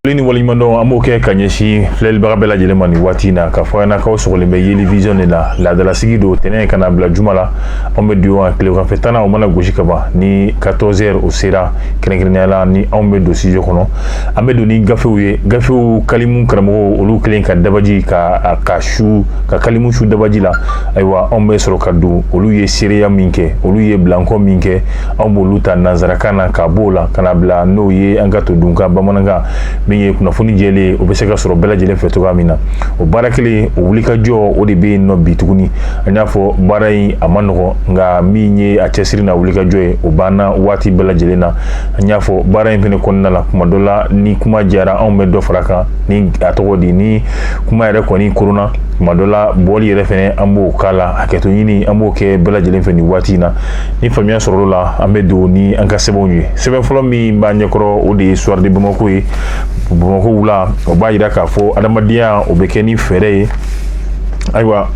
foli ni waleɲumandɔn an b'o kɛ ka ɲɛsin filɛlibaga bɛɛ lajɛlen ma nin waati in na k'a fɔ ɲɛnakaw sɔgɔlen bɛ yeli vision de la laadalasigi don tɛnɛn ka na bila juma la anw bɛ don yan tileganfɛ tanna o mana gosi ka ban ni 14 heures o sera kɛrɛnkɛrɛnnenya la ni anw bɛ don studio kɔnɔ an bɛ don ni gafew ye gafew kalimu karamɔgɔ olu kelen ka dabaji ka ka su ka kalimu su dabaji la ayiwa anw bɛ sɔrɔ ka don olu ye seereya min kɛ olu ye bilankɔ min kɛ anw b'olu ta nanzarakan na ka b'o la ka na bila n'o ye an ka todunkan bamanankan min ye kunnafoni jɛlen o bɛ se ka sɔrɔ bɛɛ lajɛlen fɛ cogoya min na o baara kelen o wulikajɔ o de bɛ yen nɔ bi tuguni an y'a fɔ baara in a man nɔgɔn nka min ye a cɛsiri n'a wulikajɔ ye o banna waati bɛɛ lajɛlen na an y'a fɔ baara in fana kɔnɔna la kuma dɔ la ni kuma jara anw bɛ dɔ far'a kan ni a cogo di ni kuma yɛrɛ kɔni korona tuma dɔ la bɔli yɛrɛ fɛnɛ an b'o k'a la hakɛto ɲini an b'o kɛ bɛɛ lajɛlen fɛ nin waati in na ni faamuya sɔrɔla an bɛ don ni an ka sɛbɛnw ye sɛbɛn fɔlɔ min b'an ɲɛkɔrɔ o de ye soir de bamako ye bamako wula o b'a yira k'a fɔ adamadenya o bɛ kɛ ni fɛɛrɛ ye ayiwa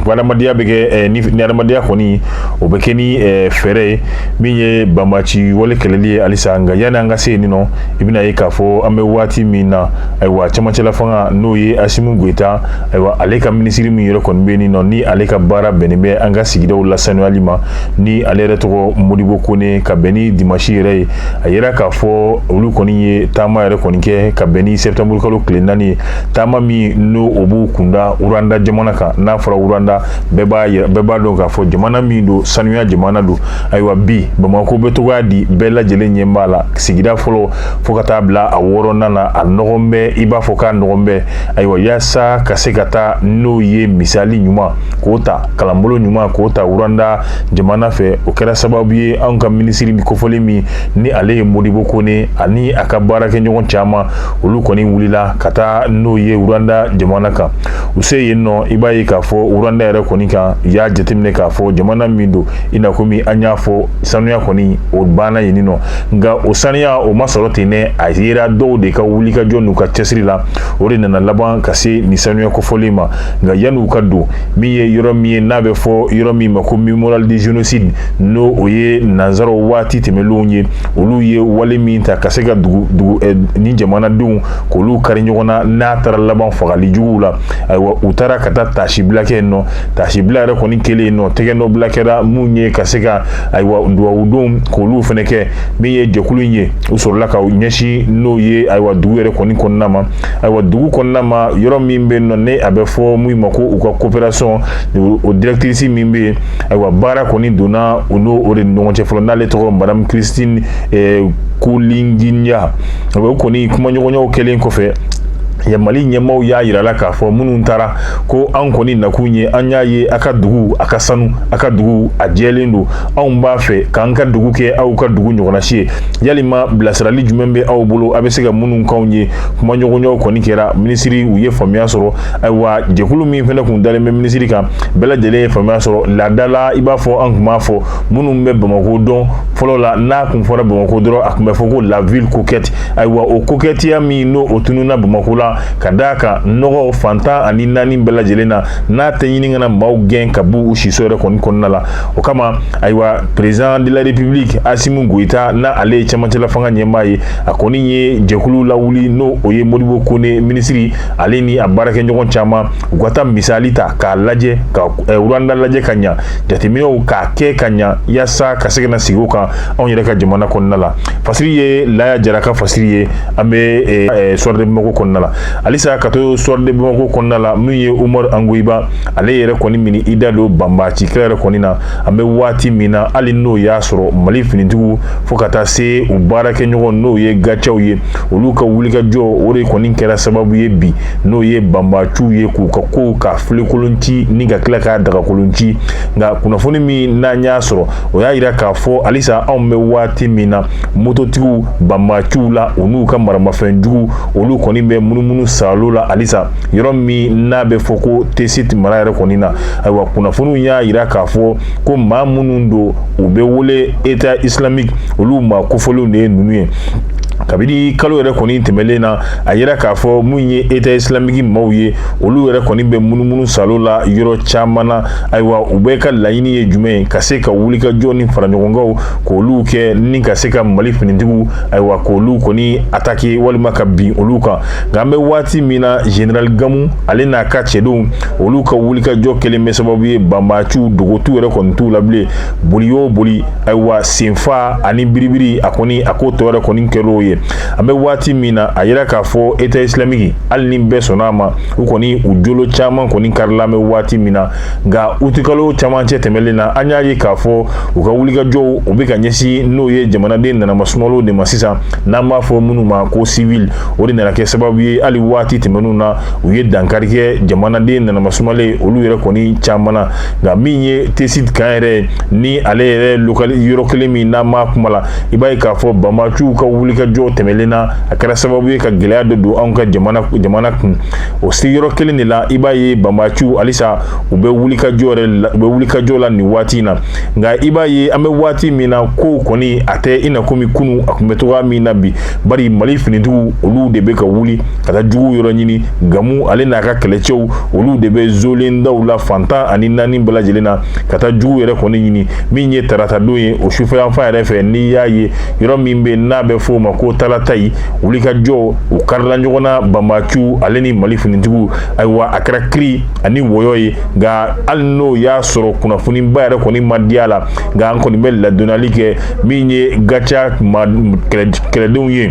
ko adamadenya bɛ kɛ ni adamadenya kɔni o bɛ kɛ ni fɛɛrɛ ye min ye banbaanci wale kɛlɛli ye halisa nka yanni an ka se yen nɔ i bɛna ye k'a fɔ an bɛ waati min na ayiwa cɛmancɛla fanga n'o ye asimu goyita ayiwa ale ka minisiri min yɛrɛ kɔni bɛ nin nɔ ni ale ka baara bɛnnen bɛ an ka sigidaw lasanuyali ma ni ale yɛrɛ tɔgɔ modibo kone ka bɛn ni dimasi yɛrɛ ye a yira k'a fɔ olu kɔni ye taama yɛrɛ kɔni kɛ ka bɛn ni sɛtanburukalo tile naani ye taama min n'o b'u kunda uranda jamana kan n'a fɔra uranda bɛɛ b'a dɔn k'a fɔ jamana min don sanuya jamana don ayiwa bi bamakɔ bɛ cogoya di bɛɛ lajɛlen ɲɛ b'a la sigida fɔlɔ fo ka taa bila a wɔɔrɔnan na a nɔgɔn bɛ i b'a fɔ k'a nɔgɔn bɛ ayiwa yaasa ka se ka taa n'o ye misali ɲuman k'o ta kalanbolo ɲuman k'o ta wuranda jamana fɛ o kɛra sababu ye anw ka minisiri nin kofɔlen min ni ale ye modibo kone ani a ka baarakɛɲɔgɔn caman olu kɔni wulila ka taa n'o ye wuranda jamana kan u se yen nɔ i b'a ye k'a fɔ uranda yɛrɛ kɔni kan i y'a jateminɛ k'a fɔ jamana min don i na komi an y'a fɔ sanuya kɔni o banna yen nɔ nka o saniya o ma sɔrɔ ten dɛ a yera dɔw de ka wulikajɔ n'u ka cɛsiri la o de nana laban ka se nin sanuya kofɔlen ma nka yan'u ka don min ye yɔrɔ min ye n'a bɛ fɔ yɔrɔ min ma ko mémorial de génocide n'o o ye nanzaraw waati tɛmɛnlenw ye olu ye wale min ta ka se ka dugu dugu eh, ni jamanadenw k'olu kari ɲɔgɔn na n'a taara laban fagali juguw la ayiwa u taara ka taa taasibila kɛ yen nɔ taasibila yɛrɛ kɔni kɛlen yen nɔ tɛgɛnɔbila kɛra mun ye ka se ka ayiwa dugawudonw k'olu fana kɛ min ye jɛkulu in ye u sɔrɔla ka ɲɛsin n'o ye ayiwa dugu yɛrɛ kɔni kɔnɔna ma ayiwa dugu kɔnɔna ma yɔrɔ min bɛ yen nɔ n'a bɛ fɔ min ma ko u ka coopération o directrice min bɛ yen ayiwa baara kɔni donna u n'o o de ni ɲɔgɔn cɛ fɔlɔ n'ale tɔgɔ madame Christine eh, Kulinginya o kɔni kumaɲɔgɔnyaw kɛlen kɔfɛ ya mali ɲɛmaaw y'a yira la k'a fɔ minnu taara ko anw kɔni nakun ye an y'a ye a ka dugu a ka sanu a ka dugu a jɛlen don anw b'a fɛ k'an ka dugu kɛ aw ka dugu ɲɔgɔnnasi ye yalima bilasirali jumɛn bɛ aw bolo a bɛ se ka minnu k'anw ye kumaɲɔgɔnyaw kɔni kɛra minisiri u ye faamuya sɔrɔ ayiwa jɛkulu min fana tun dalen bɛ minisiri kan bɛɛ lajɛlen ye faamuya sɔrɔ laada la i b'a fɔ an tun b'a fɔ minnu bɛ bamakɔ dɔn fɔlɔ la n'a tun fɔra bamakɔ dɔrɔn a tun bɛ fɔ ko la ville coquette ayiwa o kokɛtiya min n'o o tununna bamakɔ la ka d'a kan nɔgɔ fan tan ani naani bɛɛ lajɛlen na n'a tɛ ɲini ka na maaw gɛn ka b'u siso yɛrɛ kɔni kɔnɔna la o kama ayiwa président de la république asimu goyita n'ale ye cɛmancɛla fanga ɲɛmaa ye a kɔni ye jɛkulu lawuli n'o o ye modibo kone minisiri ale ni a baarakɛɲɔgɔn caman u ka taa misali ta k'a lajɛ ka rwanda lajɛ ka ɲa jateminɛw k'a kɛ ka ɲa yasa ka se ka na sigi o kan anw yɛrɛ ka jamana kɔnɔna la fasiri ye laya jara ka fasiri ye an bɛ eh, eh, soir de bamako kɔnɔna la halisa ka to soir de bamako kɔnɔna la min ye umaru angoyiba ale yɛrɛ kɔni mini i da don banbaci kɛlɛ yɛrɛ kɔni na an bɛ waati min na hali n'o y'a sɔrɔ mali finitigiw fo ka taa se u baarakɛɲɔgɔn n'o ye gatiaw ye olu ka wulikajɔ o de kɔni kɛra sababu ye bi n'o ye banbaciw ye k'u ka ko k'a filenkolon ci ni ka tila k'a dagakolon ci nka kunnafoni min n'an y'a sɔrɔ o y'a yira k'a fɔ halisa anw bɛ waati min na mototigiw banbaciw la u n'u ka maramafɛn jugu olu kɔni bɛ munumunu saalo la halisa yɔrɔ min n'a bɛ fɔ ko tesit mara yɛrɛ kɔni na ayiwa kunnafoniw y'a yira k'a fɔ ko maa minnu don u bɛ wele état islamique olu maa kofɔlenw de ye ninnu ye kabiri kalo yɛrɛ kɔni tɛmɛlen na a yira k'a fɔ min ye eta isilamiki maaw ye olu yɛrɛ kɔni bɛ munumunu saalo la yɔrɔ caman na ayiwa u bɛɛ ka laɲini ye jumɛn ye ka se ka wulikajɔ ni faraɲɔgɔnkanw k'olu kɛ ni ka se ka mali finitigiw ayiwa k'olu kɔni atake walima ka bin olu kan nka an bɛ waati min na general gamu ale n'a ka cɛdenw olu ka wulikajɔ kɛlen bɛ sababu ye banbaciw dogotu yɛrɛ kɔni t'u la bilen boli o boli ayiwa senfa ani biribiri a kɔni a ko tɔ yɛrɛ kɔni kɛr'o ye an bɛ waati min na a yira k'a fɔ eta isilamiki hali ni bɛɛ sɔnna a ma u kɔni u jolo caman kɔni karila an bɛ waati min na nka utikalo camancɛ tɛmɛlen na an y'a ye k'a fɔ u ka wulikajɔw u bɛ ka ɲɛsin n'o ye jamanaden nanama sumalenw de ma sisan n'an b'a fɔ minnu ma ko sivili o de nana kɛ sababu ye hali waati tɛmɛnenw na u ye dankari kɛ jamanaden nanama sumalen olu yɛrɛ kɔni caman na nka min ye tesit kan yɛrɛ ni ale yɛrɛ yɔrɔ kelen min n'an b'a kuma la i b'a ye k'a fɔ banbaciw ka wulikajɔ tɛmɛlen na a kɛra sababu ye ka gɛlɛya dɔ don anw ka jamana kun o sigiyɔrɔ kelen de la i b'a ye banbaciw halisa u bɛ wuli u bɛ wulikajɔ la nin waati in na nka i b'a ye an bɛ waati min na kow kɔni a tɛ i na komi kunun a tun bɛ cogoya min na bi bari mali finitigiw olu de bɛ ka wuli ka taa juguw yɔrɔ ɲini gamu ale n'a ka kɛlɛcɛw olu de bɛ zolen daw la fan tan ani naani bɛɛ lajɛlen na ka taa juguw yɛrɛ kɔni ɲini min ye tarata don ye o sufɛyanfan yɛrɛ fɛ n'i y'a ye yɔrɔ min bɛ n'a bɛ f'o ma ko talatayi wulikajɔ u karila ɲɔgɔn na banbaciw ale ni mali finitigiw ayiwa a kɛra kiri ani wɔyɔ ye nka hali n'o y'a sɔrɔ kunnafoniba yɛrɛ kɔni ma di a la nka an kɔni bɛ ladonali kɛ min ye gaca kɛlɛdenw ye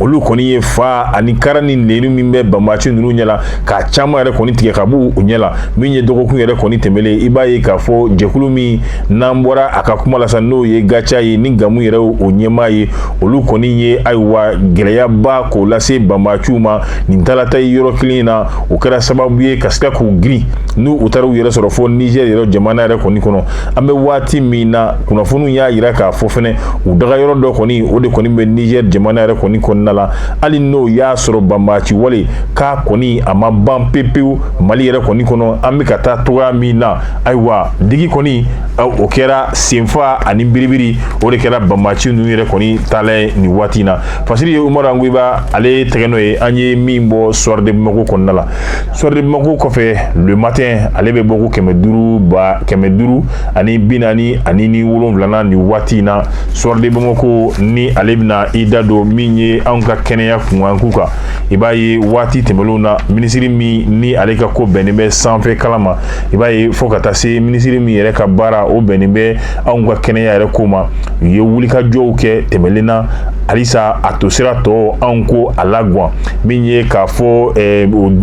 olu kɔni ye fa ani kara ni nenu min bɛ banbaci ninnu ɲɛ la k'a caman yɛrɛ kɔni tigɛ ka b'u ɲɛ la min ye dɔgɔkun yɛrɛ kɔni tɛmɛlen ye i b'a ye k'a fɔ jɛkulu min n'an bɔra a ka kuma la sa n'o ye gaca ye ni gamu yɛrɛ o ɲɛmaa ye olu kɔni ye ayiwa gɛlɛyaba k'o lase banbaciw ma nin talatayi yɔrɔ kelen in na o kɛra sababu ye ka se ka k'u girin n'u u taara u yɛrɛ sɔrɔ fo nizɛr yɛrɛ jamana yɛrɛ kɔni kɔnɔ an bɛ waati min na kunnafoniw y'a yira k'a fɔ fɛnɛ u dagayɔrɔ dɔ kɔni o de kɔni bɛ niger jamana yɛrɛ kɔni kɔnɔna la hali n'o y'a sɔrɔ banbaci wale k'a kɔni a ma ban pepewu mali yɛrɛ kɔni kɔnɔ an bɛ ka taa cogoya min na ayiwa digi kɔni o kɛra senfa ani biribiri o de kɛra banbaci ninnu yɛrɛ kɔni taala ye nin waati in na fasiri umaru angoyiba ale tɛgɛnɔ ye an ye min bɔ soir de bamakɔ kɔnɔna la soir de bamakɔ kɔfɛ le matin ale bɛ bɔko kɛmɛ duuru ba kɛmɛ duuru ani bi naani ani ni wolonwulana nin waati in na soir de bamakɔ ni ale bɛna i da don min ye anw ka kɛnɛya kunkanko kan i b'a ye waati tɛmɛlenw na minisiri min ni ale ka ko bɛnnen bɛ sanfɛ kalan ma i b'a ye fo ka taa se minisiri min yɛrɛ ka baara o bɛnnen bɛ anw ka kɛnɛya yɛrɛ ko ma u ye wulikajɔw kɛ tɛmɛlen na halisa a tosira tɔ anw ko a laguwan min ye k'a fɔ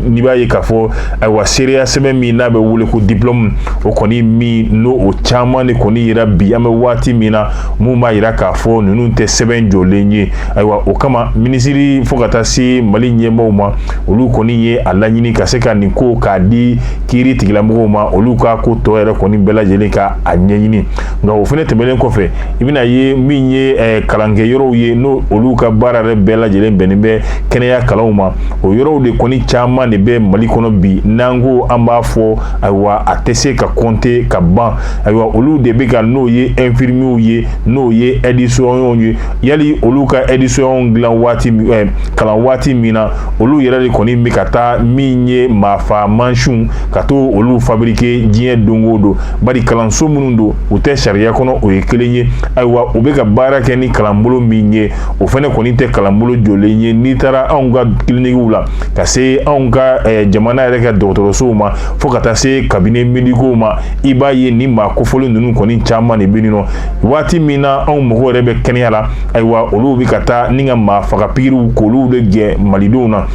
n'i b'a ye k'a fɔ ayiwa seereya sɛbɛn min n'a bɛ wele ko diplɔmu o kɔni min n'o o caman de kɔni yira bi an bɛ waati min na mun b'a yira k'a fɔ ninnu tɛ sɛbɛn jɔlen ye ayiwa o kama minisiri fo ka taa se mali ɲɛmɔgɔw ma olu kɔni ye a laɲini ka se ka nin ko k'a di kiiritigɛla mɔgɔw ma olu ka ko tɔ yɛrɛ kɔni bɛɛ lajɛlen ka a ɲɛɲini nka o fana tɛmɛnen kɔfɛ i bɛna ye min ye eh, kalankɛyɔrɔw ye n'o olu ka baara yɛrɛ bɛɛ lajɛlen bɛnnen bɛ kɛnɛya kalanw ma o yɔrɔw de kɔni caman de bɛ mali kɔnɔ bi n'an ko an b'a fɔ ayiwa a tɛ se ka kɔnte ka ban ayiwa olu de bɛ ka n'o ye infirmierw ye n'o ye ɛdisɔnyɔnw ye yali olu ka ɛdisɔnyɔnw dilan waati eh, kalan waati min na olu yɛrɛ de kɔni bɛ ka taa min ye maafa mansinw ka to olu fabrike diɲɛ don o don bari kalanso minnu don u tɛ sariya kɔnɔ o ye kelen ye ayiwa u bɛ ka baara kɛ ni kalanbolo min ye o fana kɔni tɛ kalanbolo jɔlen ye n'i taara anw ka kilinikiw la ka se anw ka eh, jamana yɛrɛ ka dɔgɔtɔrɔsow ma fo ka taa se kabine medikow ma i b'a ye nin maa kofɔlen ninnu kɔni caman de bɛ yenninnɔ waati min na anw mɔgɔw yɛrɛ bɛ kɛnɛya la ayiwa olu bɛ ka taa n'u ka maa faga pikiriw k'olu de gɛn malidenw na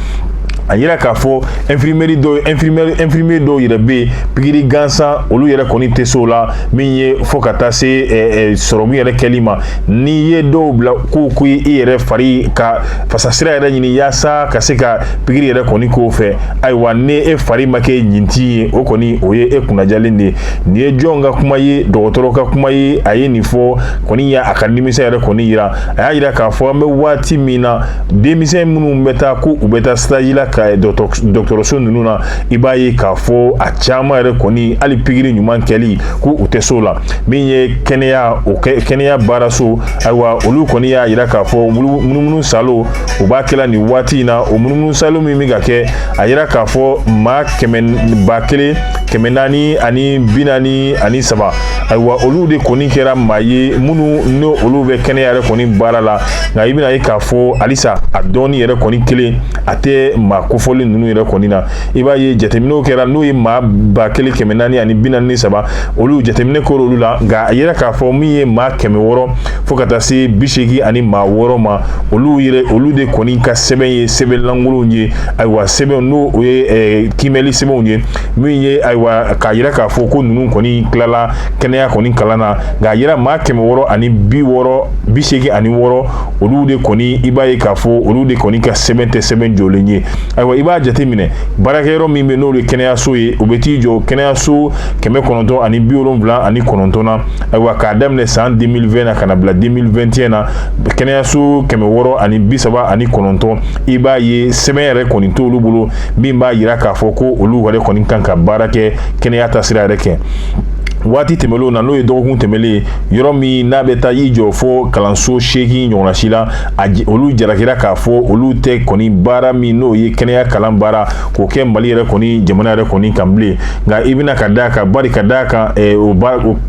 a yira k'a fɔ infirmier dɔw yɛrɛ bɛ yen pikiri gansan olu yɛrɛ kɔni tɛ se o la min ye fo ka taa se eh, eh, sɔrɔmu yɛrɛ kɛli ma n'i ye dɔw bila ko i yɛrɛ fari ka fasasira yɛrɛ ɲini yaasa ka se ka pikiri yɛrɛ kɔni k'o fɛ ayiwa ni e fari ma kɛ ɲintin ye o kɔni o ye e kunnajalen de ye nin ye jɔn ka kuma ye dɔgɔtɔrɔ ka kuma ye a ye nin fɔ kɔni y'a ka nimisa yɛrɛ kɔni yira a y'a yira k'a fɔ an bɛ waati min na denmisɛn minnu bɛ taa ko u bɛ taa sitazi la ka dɔgɔtɔrɔso ninnu na i b'a ye k'a fɔ a caman yɛrɛ kɔni hali pikiri ɲuman kɛli ko u tɛ s'o la min ye kɛnɛya kɛnɛya baaraso ayiwa olu kɔni y'a yira k'a fɔ munumunu saaloba kɛla nin waati in na o munumunu saalo min bɛ ka kɛ a yira k'a fɔ maa ba kelen kɛmɛ naani ani bi naani ani saba ayiwa olu de kɔni kɛra maa ye minnu n'olu bɛ kɛnɛya yɛrɛ kɔni baara la nka i bɛna ye k'a fɔ halisa a dɔnni yɛrɛ kɔni kelen a tɛ maa kofɔlen ninnu yɛrɛ kɔni na i b'a ye jateminɛw kɛra n'o ye maa ba kelen kɛmɛ naani ani bi naani ni saba olu jateminɛ kɛra olu la nka a yira k'a fɔ min ye maa kɛmɛ wɔɔrɔ fo ka taa se bi seegin ani maa wɔɔrɔ ma olu de kɔni ka sɛbɛn ye sɛbɛn lankolonw ye ayiwa sɛbɛn n'o o ye eh, kiimɛli sɛbɛnw ye min ye ayiwa k'a yira k'a fɔ ko ninnu kɔni tilala kɛnɛya kɔni kalan na nka a yira maa kɛmɛ wɔɔrɔ ani bi wɔɔrɔ bi seegin ani wɔɔrɔ olu de kɔni i b'a ye k'a fɔ olu de kɔni ka sɛbɛn tɛ sɛbɛn jɔlen ye ayiwa i b'a jateminɛ baarakɛyɔrɔ min bɛ n'o ye kɛnɛyaso ye o bɛ t'i jɔ kɛnɛyaso kɛmɛ kɔnɔntɔn ani bi wolonwula ani kɔnɔntɔn na ayiwa k'a daminɛ san 2020 na ka na bila 2021 na kɛnɛyaso kɛmɛ wɔɔrɔ ani bi saba ani kɔnɔntɔn i b'a ye sɛbɛn yɛrɛ kɔni t'olu bolo min b'a yira k'a fɔ ko olu yɛrɛ kɔni kan ka baara kɛ kɛnɛya taasira yɛrɛ kɛ waati tɛmɛnlenw na n'o ye dɔgɔkun tɛmɛnlen ye yɔrɔ min n'a bɛ taa i jɔ fo kalanso seegin ɲɔgɔnna si la a olu jarakira k'a fɔ olu tɛ kɔni baara min n'o ye kɛnɛya kalan baara k'o kɛ mali yɛrɛ kɔni jamana yɛrɛ kɔni kan bilen nka i bɛna ka d'a kan bari ka d'a kan eh, o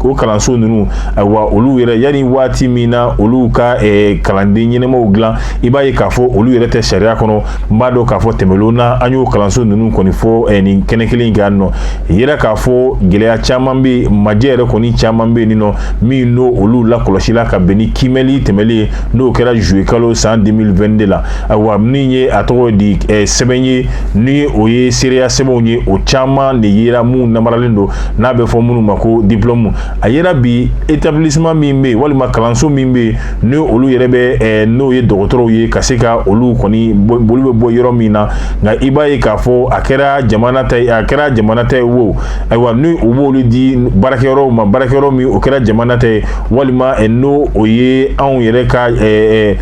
o kalanso ninnu ayiwa olu yɛrɛ yanni waati min na olu ka eh, kalanden ɲɛnamaw dilan i b'a ye k'a fɔ olu yɛrɛ tɛ sariya kɔnɔ n b'a dɔn k'a fɔ tɛmɛnlenw na an y'o kalanso ninnu kɔni fɔ eh, nin kɛnɛ kelen in kan nɔ yira k'a fɔ gɛlɛya caman bɛ majɛ yɛrɛ kɔni caman bɛ yen nɔ min n'o olu lakɔlɔsila ka bɛn ni kimɛli tɛmɛnlen ye n'o kɛra zuye kalo san 2022 de la ayiwa min ye a tɔgɔ di eh, sɛbɛn ye ni o ye seereya sɛbɛnw ye o caman de yera minnu namaralen don n'a bɛ fɔ minnu ma ko diplɔmu a yera bi établissement min bɛ yen walima kalanso min bɛ yen ni olu yɛrɛ bɛ eh, n'o ye dɔgɔtɔrɔw ye ka se ka olu kɔni olu bɛ bɔ yɔrɔ min na nka i b'a ye k'a fɔ a kɛra jamana ta ye wo ayiwa ni u b'olu di baarakɛyɔrɔw ma baarakɛyɔrɔ min o kɛra jamana ta ye walima eh, n'o o ye anw yɛrɛ ka eh,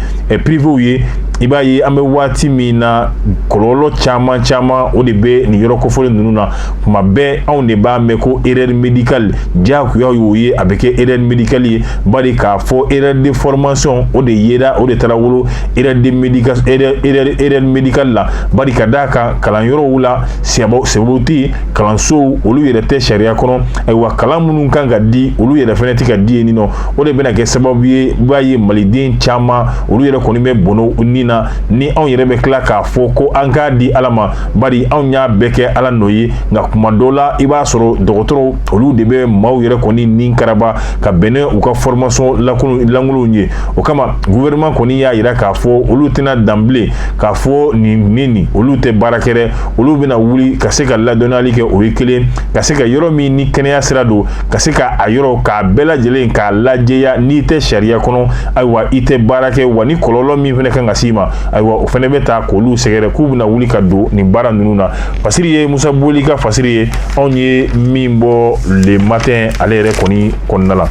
privéw ye i b'a ye an bɛ waati min na kɔlɔlɔ caman caman o de bɛ nin yɔrɔ kofɔlen ninnu na kuma bɛɛ anw de b'a mɛn ko erreur médicale diyagoya y'o ye a bɛ kɛ erreur médicale ye bari k'a fɔ erreur de formation o de yera o de taara wolo erreur médicale la bari ka d'a kan kalanyɔrɔw la c'est-à-dire kalansow olu yɛrɛ tɛ sariya kɔnɔ ayiwa kalan minnu kan ka di olu yɛrɛ fɛnɛ tɛ ka di yen nɔ o de bɛna kɛ sababu ye i b'a ye maliden caman olu yɛrɛ kɔni bɛ bɔnɔ u ni na ni anw yɛrɛ bɛ tila k'a fɔ ko an k'a di ala ma bari anw y'a bɛɛ kɛ ala nɔ ye nka kuma dɔ la i b'a sɔrɔ dɔgɔtɔrɔw olu de bɛ maaw yɛrɛ kɔni ni karaba ka bɛn n'u ka formation lankolonw ye o kama gouvernement kɔni y'a yira k'a fɔ olu tɛna dan bilen k'a fɔ nin ni nin olu tɛ baara kɛ dɛ olu bɛna wuli ka se ka ladɔnniyali kɛ o ye kelen ka se ka yɔrɔ min ni kɛnɛya sira don ka se ka a yɔrɔ k'a bɛɛ lajɛlen k'a lajɛya n'i tɛ sariya kɔnɔ ayiwa i tɛ baara kɛ wa ni kɔlɔlɔ min fɛnɛ kan ka s'i ma ayiwa o fɛnɛ bɛ ta k'olu sɛgɛrɛ k'u bɛna wuli ka don nin baara ninnu na fasiri ye musa boli ka fasiri ye anw ye min bɔ le matin ale yɛrɛ kɔni kɔnɔna la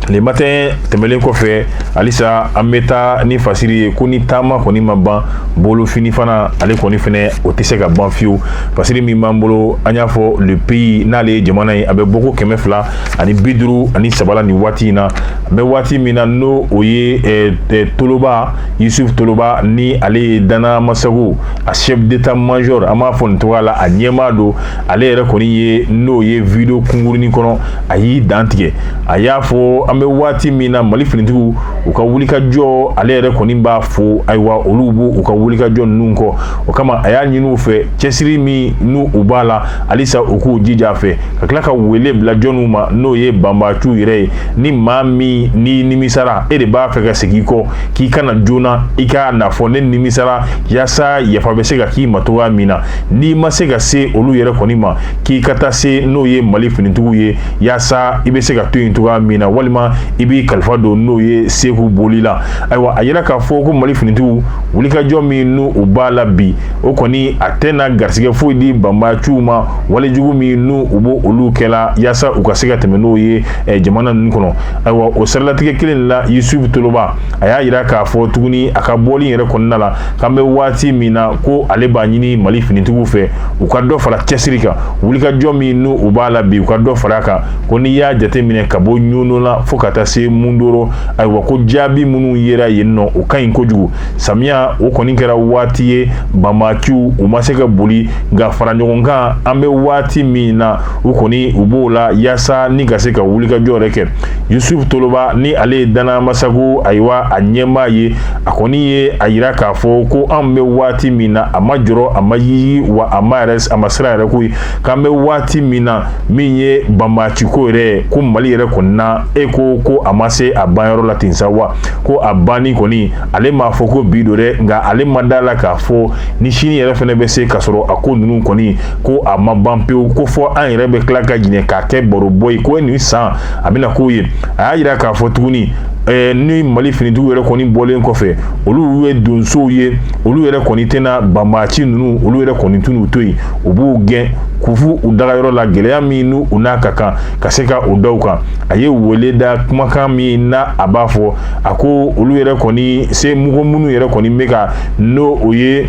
le matin tɛmɛlen kɔfɛ halisa an bɛ taa ni fasiri ye ko ni taama kɔni ma ban bolofini fana ale kɔni fɛnɛ o tɛ se ka ban fiyewu fasiri min b'an bolo an y'a fɔ le pays n'ale ye jamana ye a bɛ bɔko kɛmɛ fila ani bi duuru ani saba la nin waati in na an bɛ waati min na n'o o ye eh, eh, toloba yusuf toloba ni ale ye dana masago a chef d'état major an b'a fɔ nin cogoya la a ɲɛmaa don ale yɛrɛ kɔni ye n'o ye video kunkurunin kɔnɔ a y'i dan tigɛ a y'a fɔ an bɛ waati min na mali finitigiw u ka wulikajɔ ale yɛrɛ kɔni b'a fo ayiwa olu b'u ka wulikajɔ ninnu kɔ o kama a y'a ɲini u fɛ cɛsiri min n'u u b'a la halisa u k'u jija a fɛ ka tila ka wele bila jɔnw ma n'o ye banbaciw yɛrɛ ye ni maa min n'i nimisara e de b'a fɛ ka segin i kɔ k'i ka na joona i ka n'a fɔ ne nimisara yaasa yafa bɛ se ka k'i ma cogoya min na n'i ma se ka se olu yɛrɛ kɔni ma k'i ka taa se n'o ye mali finitigiw ye yaasa i bɛ se ka to yen cogoya min na walima i b'i kalifa don n'o ye seku boli la ayiwa a y'a yira k'a fɔ ko mali finitigiw wulikajɔ min n'u u b'a la bi o kɔni a tɛna garisɛgɛ foyi di banbaciw ma walejugu minnu u b'olu kɛ la yaasa u ka se ka tɛmɛ n'o ye jamana nin kɔnɔ ayiwa o siralatigɛ kelen la yusufu toloba a y'a yira k'a fɔ tuguni a ka bɔli yɛrɛ kɔnɔna la k'an bɛ waati min na ko ale b'a ɲini mali finitigiw fɛ u ka dɔ fara cɛsiri kan wulikajɔ min n'u u b'a la bi u ka dɔ fara a kan ko n'i y'a jateminɛ ka bɔ ɲɔnɔ la fo ka taa se mundoro ayiwa ko jaabi minnu yera yen nɔ o ka ɲi kojugu samiya o kɔni kɛra waati ye banbaciw u ma se ka boli nka fara ɲɔgɔn kan an bɛ waati min na u kɔni u b'o la yaasa ni ka se ka wulikajɔ yɛrɛ kɛ yusufu toloba ni ale ye dana masago ayiwa a ɲɛmaa ye a kɔni ye a yira k'a fɔ ko an bɛ waati min na a ma jɔrɔ a ma yigi wa a ma siran yɛrɛ ko ye k'an bɛ waati min na min ye banbaciko yɛrɛ ko mali yɛrɛ kɔnɔna e ko ko a ma se a banyɔrɔ la ten sa wa ko a banni kɔni ale m'a fɔ ko bi don dɛ nka ale ma da a la k'a fɔ ni sini yɛrɛ fɛnɛ bɛ se ka sɔrɔ a ko ninnu kɔni ko a ma ban pewu ko fo an yɛrɛ bɛ tila ka ɲinɛ k'a kɛ barobɔ ye ko nin san a bɛna k'o ye a y'a yira k'a fɔ tuguni ɛɛ ni mali finitigiw yɛrɛ kɔni bɔlen kɔfɛ olu ye donsow ye olu yɛrɛ kɔni tɛna banbaci ninnu olu yɛrɛ kɔni tɛn'u to yen u b'u gɛn k'u f'u u dagayɔrɔ la gɛlɛya minnu n'a ka kan ka se ka o da u kan a ye wele da kumakan min na a b'a fɔ a ko olu yɛrɛ kɔni se mɔgɔ minnu yɛrɛ kɔni bɛ ka n'o ye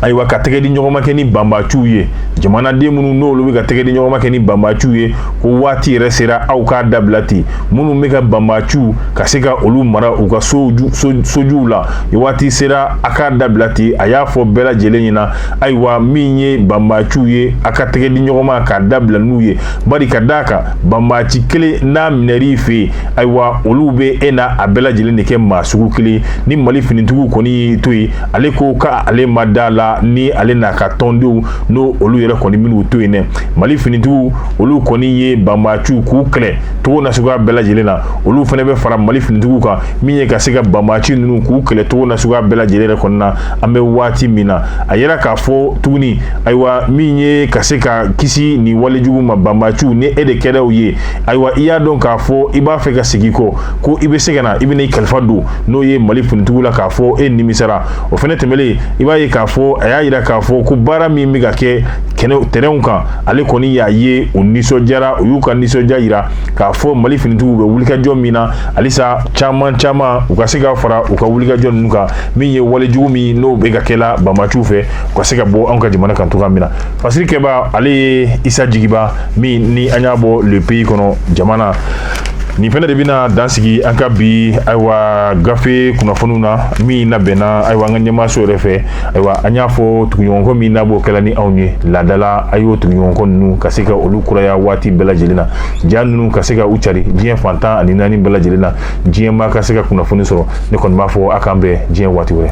ayiwa ka tɛgɛ di ɲɔgɔnma kɛ ni banbaciw ye jamanaden minnu n'olu bɛ ka tɛgɛ di ɲɔgɔnma kɛ ni banbaciw ye ko waati yɛrɛ sera aw k'a dabila ten minnu bɛ ka banbaciw ka se ka olu mara u ka sojuw la waati sera a k'a dabila ten a y'a fɔ bɛɛ lajɛlen ɲɛna ayiwa min ye banbaciw ye a ka tɛgɛ di ɲɔgɔnma k'a dabila n'u ye bari ka d'a kan banbaci kelen n'a minɛr'i fɛ yen ayiwa olu bɛ e n'a bɛɛ lajɛlen de kɛ maa sugu kelen ni mali finitigiw kɔni y'i to yen ale ko ka ale ma da la ni ale n'a ka tɔndenw n'o olu yɛrɛ kɔni minnu to yen dɛ mali finitigiw olu kɔni ye banbaaciw k'u kɛlɛ togo nasuguya bɛɛ lajɛlen na olu fana bɛ fara mali finitigiw kan min ye ka se ka banbaaci ninnu k'u kɛlɛ togo nasuguya bɛɛ lajɛlen yɛrɛ kɔni na an bɛ waati min na a y'a jira k'a fɔ tuguni ayiwa min ye ka se ka kisi nin walejugu ma banbaaciw ni e de kɛra u ye ayiwa i y'a dɔn k'a fɔ i b'a fɛ ka segin kɔ ko i bɛ se ka na i bɛna i kalifa don n'o ye mali finitigiw la k'a fɔ e nimisara o fana tɛmɛlen i b'a ye k'a fɔ a y'a jira k'a fɔ ko baara min bɛ ka kɛ terrainw kan ale kɔni y'a ye u nisɔndiyara u y'u ka nisɔndiya jira k'a fɔ mali finitigiw bɛ wulikajɔ min na halisa caman caman u ka se ka fara u ka wulikajɔ ninnu kan min ye walejugu min n'o bɛ ka kɛla banbaciw fɛ u ka se ka bɔ anw ka jamana kan cogoya min na fasiri kɛbaa ale ye isa jigiba min ni an y'a bɔ le pays kɔnɔ jamana nin fana de bɛna dansigi an ka bi ayiwa gafe kunnafoniw na min labɛnna ayiwa an ka ɲɛmaaso yɛrɛ fɛ ayiwa an y'a fɔ tuguɲɔgɔnkɔ min n'a b'o kɛla ni anw ye laadala a y'o tuguɲɔgɔnkɔ ninnu ka se ka olu kuraya waati bɛɛ lajɛlen na ja ninnu ka se ka u cari diɲɛ fan tan ani naani bɛɛ lajɛlen na diɲɛ maa ka se ka kunnafoni sɔrɔ ne kɔni b'a fɔ a k'an bɛn diɲɛ waati wɛrɛ